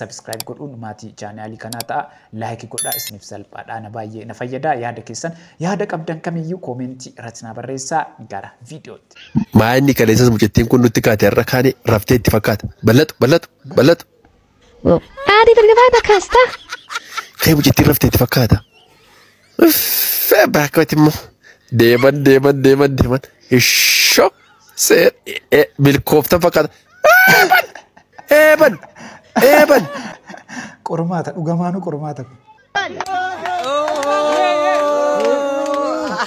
Subscribe godhuun maatii chaanaalii kanaa ta'a. Like godhaa isiniif salphaadha. Ana baay'ee na fayyada. Yaada keessan yaada qabdan kamiyyuu koomentii irratti naa barreessaa gara viidiyootti. Maa inni kaleessas mucattiin kun nutti kaate har'a kaane raftee itti fakkaata. Bal'atu bal'atu bal'atu. Adi bergabaa bakka astaa. Kee mucattiin raftee itti fakkaata. Uffee abbaa akkamitti immoo deeman deeman deeman deeman ishoo seer ee, milkooftan fakkaata. Eeban eeban eeban. Qormaata dhugamaanuu qormaata kun.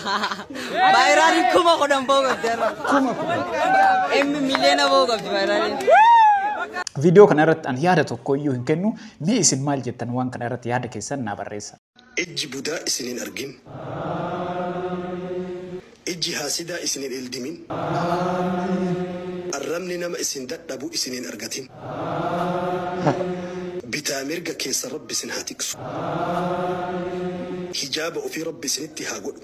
Baay'inaan kuma kudhan ba'uu qabdi har'a. Kuma kudhan. Inni miliyoona ba'uu qabdi baay'inaan. Viidiyoo kana irratti ani yaada tokko iyyuu hin kennu. Mee isin maal jettan waan kana irratti yaada keessan naa barreessa. Ijji budaa isin hin argin. Ijji haasidaa isin hin ildimin. Arrabni nama isin dadhabu isin hin argatin. Bitaa mirga keessan Rabbi isin haa tiksu. Hijaaba ofii Rabbi isinitti haa godhu.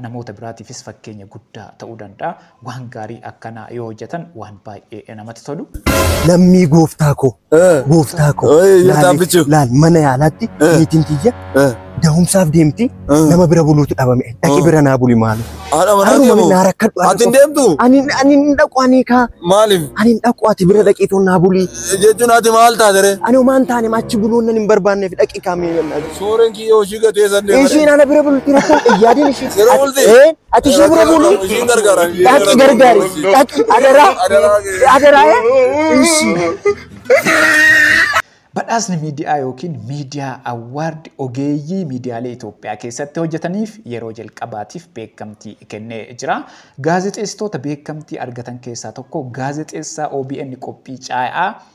namoota biraatiifis fakkeenya guddaa ta'uu danda'a. Waan gaarii akkanaa yoo hojjetan waan baay'ee namatti tolu. Lammii gooftaa koo, Gooftaa koo. Laal mana yaalaatti niitiin tiyya dahumsaaf deemti nama bira buluutu dhabame. Dhaqi bira naa buli maali. Haadha manaa Haruma deemu. naa rakkadhu. Ati hin deemtu? Ani ani hin dhaqu ani kaa. Maaliif? Ani hin dhaqu ati bira dhaqii toon naa bulii. Jechuun ati maal taatere? Ani homaan taane achi buluun nan hin barbaanneef dhaqi kaamee. Suureen kiyyoo ishii gatee san deemare. Ishiin ana bira bulti rakkoo yaadin ishii. Yeroo bulti? Ati ishii bira bulu. Ishiin gargaara. Dhaqi gargaari. Dhaqi adaraa. Adaraa. Ishi. Badhaasni miidiyaa yookiin miidiyaa awwaardi ogeeyyii miidiyaalee Itoophiyaa keessatti hojjetaniif yeroo jalqabaatiif beekamtii kennee jira. Gaazexeessitoota beekamtii argatan keessaa tokko gaazexeessaa OBN qophii caayaa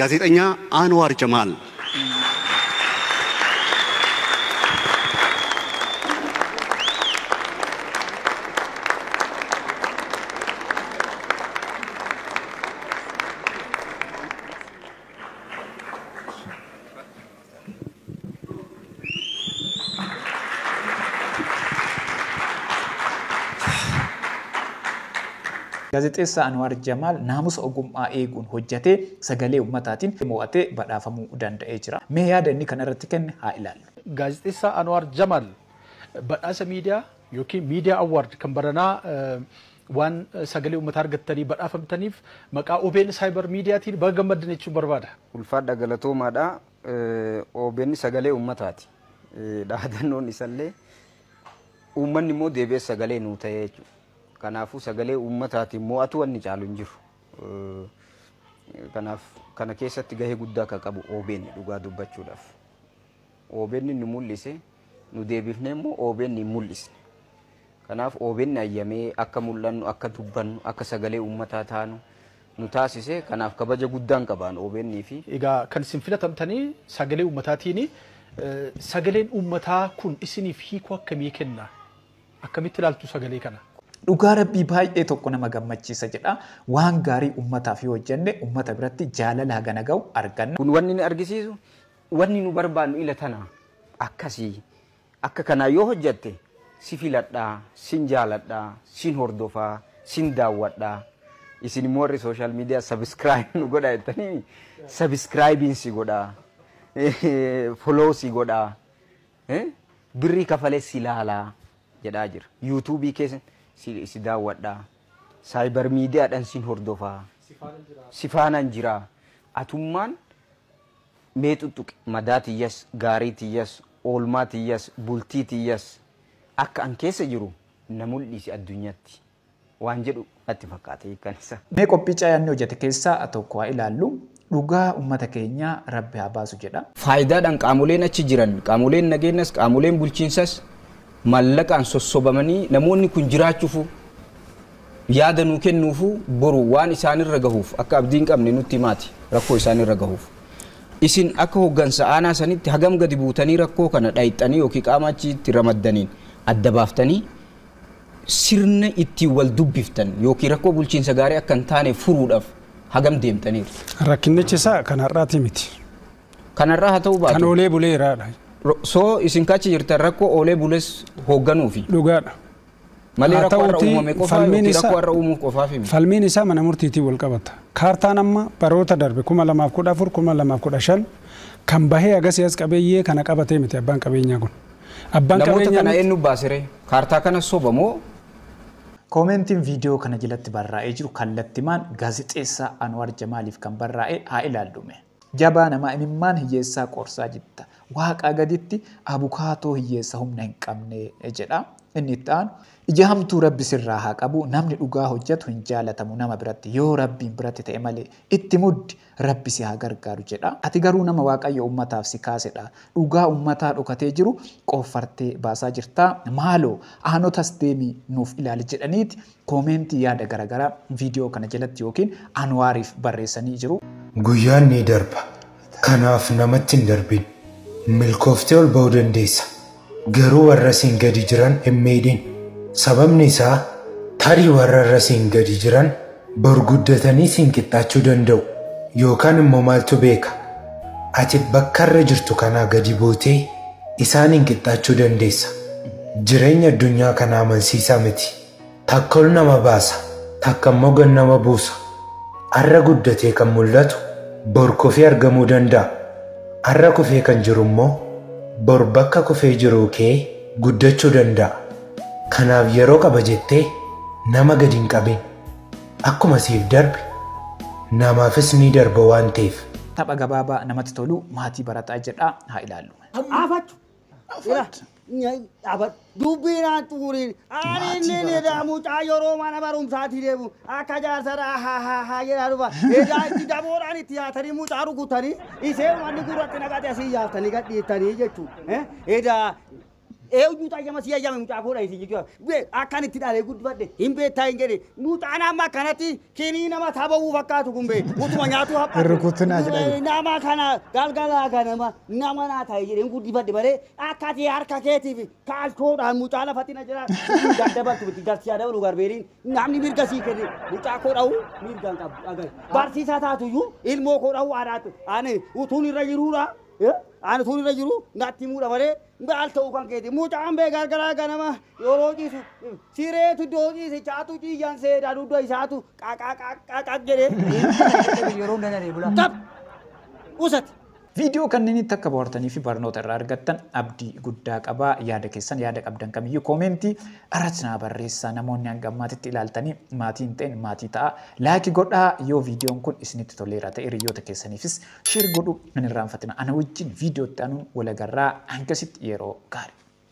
Gaazexanyaa Aanwaar Jamaal. Gaazexeessaa Anwaar Jamaal naamusa ogummaa eeguun hojjatee sagalee ummataatiin mo'atee badhaafamuu danda'ee jira. Mee yaada inni kana irratti kenne haa ilaallu. Gaazexeessaa Anwaar Jamaal badhaasa miidiyaa ykn Media Award kan baranaa Waan sagalee ummataa argattanii badhaafamtaniif maqaa obn Cyber Media tiin baga gammaddan jechuun barbaada. Ulfaadha galatoomaadha. Obn sagalee ummataati. Dhaadannoon isallee uummanni immoo deebi'ee sagalee nuu ta'ee jechuudha. Kanaafuu sagalee uummataatiin mo'atu wanni caalu hin jiru. Kanaaf kana keessatti gahee guddaa akka qabu obn dhugaa dubbachuudhaaf. OBN nu mul'ise, nu deebifnee immoo OBN hin mul'isne. Kanaaf OBN hayyamee akka mul'annu, akka dubbannu, akka sagalee uummataa taanu nu taasise. Kanaaf kabaja guddaan qabaan OBN fi. Egaa kan isin filatamtanii sagalee uummataatiini. Sagaleen uummataa kun isiniif hiikoo akkamii kenna? Akkamitti ilaaltu sagalee kana? Dhugaa Rabbii baay'ee tokko nama gammachiisa jedha. Waan gaarii uummataaf yoo hojjenne uummata biratti jaalala hagana ga'u arganna. Kun wanni inni argisiisu Wanni nu barbaannu ila tana. Akkasi. Akka kanaa yoo hojjatte si filadha, sin jaaladha, sin hordofa, sin daawwadha. Isin immoo warri social media subscribe nu godha jettanii subscribing si godha. Follow si godha. Birrii kafalee si laala jedhaa jira. YouTube kee si daawwadha. Cyber media dhan sin hordofa. Si faanan jira. Atummaan Mee xuxxuqi madaa tiyyas, gaarii tiyyas, oolmaa tiyyas, bultii tiyyas akka an keessa jiru na muldhiisi addunyatti waan jedhu natti fakkaata hiikkan isaa. Mee qophii cayaan ni hojate keessaa tokko haa ilaallu. Dhugaa ummata keenyaa Rabbi haa baasu jedha. Faayidaadhaan qaamoleen achi jiran, qaamoleen nageenyas, qaamoleen bulchiinsas maallaqaan sossobamanii namoonni kun jiraachuufuu Yaada nuu kennuufu boru waan isaanirra gahuuf akka abdii hin qabne nutti himaati rakkoo isaanirra gahuuf. Isin akka hoggansa aanaa sanitti hagam gadi buutanii rakkoo kana dhayxanii ykn qaama achitti ramaddaniin adda baaftanii sirna ittiin wal dubbiftan ykn rakkoo bulchiinsa gaarii akka hin taaneef furuudhaaf hagam deemtaniirtu? Rakkinnichi isaa kan har'aatii miti. Kan har'aa haa ta'uu Kan baatu oolee buleeraadha. ro- soo isin kachi jirtan rakkoo oolee bules hoogganuufi. Dhugaadha. Malee Haa rakkoo har'a ta'uutii uumame qofaa falmiin yookiin rakkoo isaa har'a uumuuf qofaaf miti. falmiin isaa mana murtiitiin wal qabata. Kaartaan amma baroota darbe 2014, 2015 kan bahee agasii as qabeeyyee kana qabatee miti abbaan qabeenyaa kun. Abbaan Namoota qabeenyaa kana miti. eenyu baasiree? Kaartaa kana soba moo Koomentiin viidiyoo kana jalatti barraa'ee jiru kallattimaan gaazexeessaa Anwaar Jamaaliif kan barraa'e haa ilaallu mee. Jabaa namaa imimmaan hiyyeessaa qoorsaa jitta. Waaqaa gaditti abukaatoo hiyyeessa humna hin qabne jedha. Inni itti aanu ija hamtuu rabbi sirraa haa qabu namni dhugaa hojjatu hin jaalatamu nama biratti yoo rabbiin biratti ta'e malee itti muddi rabbi si haa gargaaru jedha. Ati garuu nama waaqayyo ummataaf si kaasedha. Dhugaa ummataa dhokatee jiru qooffartee baasaa jirtaa. Maaloo aanotas deemii nuuf ilaali jedhaniiti Comment yaada garagaraa video kana jalatti yookiin Anwaariif barreessanii jiru. Guyyaan ni darba. Kanaaf namatti hin darbin. Milkooftee ol ba'uu dandeessa. Garuu warra siin gadi jiran hin miidhin. Sababni isaa tarii warra irra siin gadi jiran bor guddatanii siin qixxaachuu danda'u. Yookaan immoo maaltu beeka? Ati bakka irra jirtu kanaa gadi buutee isaaniin qixxaachuu dandeessa. Jireenya addunyaa kanaa amansiisaa miti. Takka ol nama baasa, takka immoo gad nama buusa. Har'a guddatee kan mul'atu bor kufee argamuu danda'a. Har'a kufee kan jiru immoo bor bakka kufee jiruu ka'ee guddachuu danda'a. Kanaaf yeroo qaba jettee nama gad hin qabin. Akkuma siif darbe namaafis ni darba waan ta'eef. Tapha gabaabaa namatti tolu maatii barataa jedhaa haa ilaallu. Afachu. Dubbii naan xumuriin ani inni ni jedhaa mucaa yeroo mana barumsaatti deemu akka jaarsara ahahahaa jedhaa dhufa. Egaa itti daboodhaan itti yaatanii mucaa rukutanii isee manni gurratti naqate asii yaaftanii gadhiiftanii jechuudha. Edaa eenyu xayyama si ayyame mucaa koodha isin jechuudha. Akkan itti dhalee guddifadhe hin beektaa hin jedhe mucaan amma akkanatti Kinii nama taba'uu fakkaatu kun bee utuma nyaatuu haphatu. Hin rukutin as jedhani. Nama kana galgalaa ganama nama naa ta'e jedheen guddifadhe malee akka ati harka keetiif kaalchoodhaan mucaa lafatti na jira daddabartu miti jarsi haa dabalu garbeeriin namni mirga sii kenne mucaa koo dha'u mirga hin qabu agar barsiisaa taatuyyuu ilmoo koo dha'u aadaatti ani utuun irra jiruudha eh, ani utuun irra jiru natti muudha malee Gaal ta'uu kan keeti. Mucaan bee gargaraa ganama yeroo ciisu sireetu iddoo ciise chaatu ciiyyan seedaa dugda isaatu qaqaqaqaqaq jedhee. Yeroo hin danaree bulaa. Qab! Usati! Viidiyoo kanneenitti akka bohaartanii fi barnoota irraa argattan abdii guddaa qaba. Yaada keessan, yaada qabdan kamiyyuu koomeentii irratti naa barreessaa. Namoonni hanga ammaatitti ilaaltanii maatii hin ta'in maatii ta'a. Laayiki godhaa yoo viidiyoon kun isinitti toleera ta'e hiriyoota keessaniifis Share godhuu hin irraanfatina. Ana wajjin video itti aanuun wal agarraa. Hangasitti yeroo gaarii.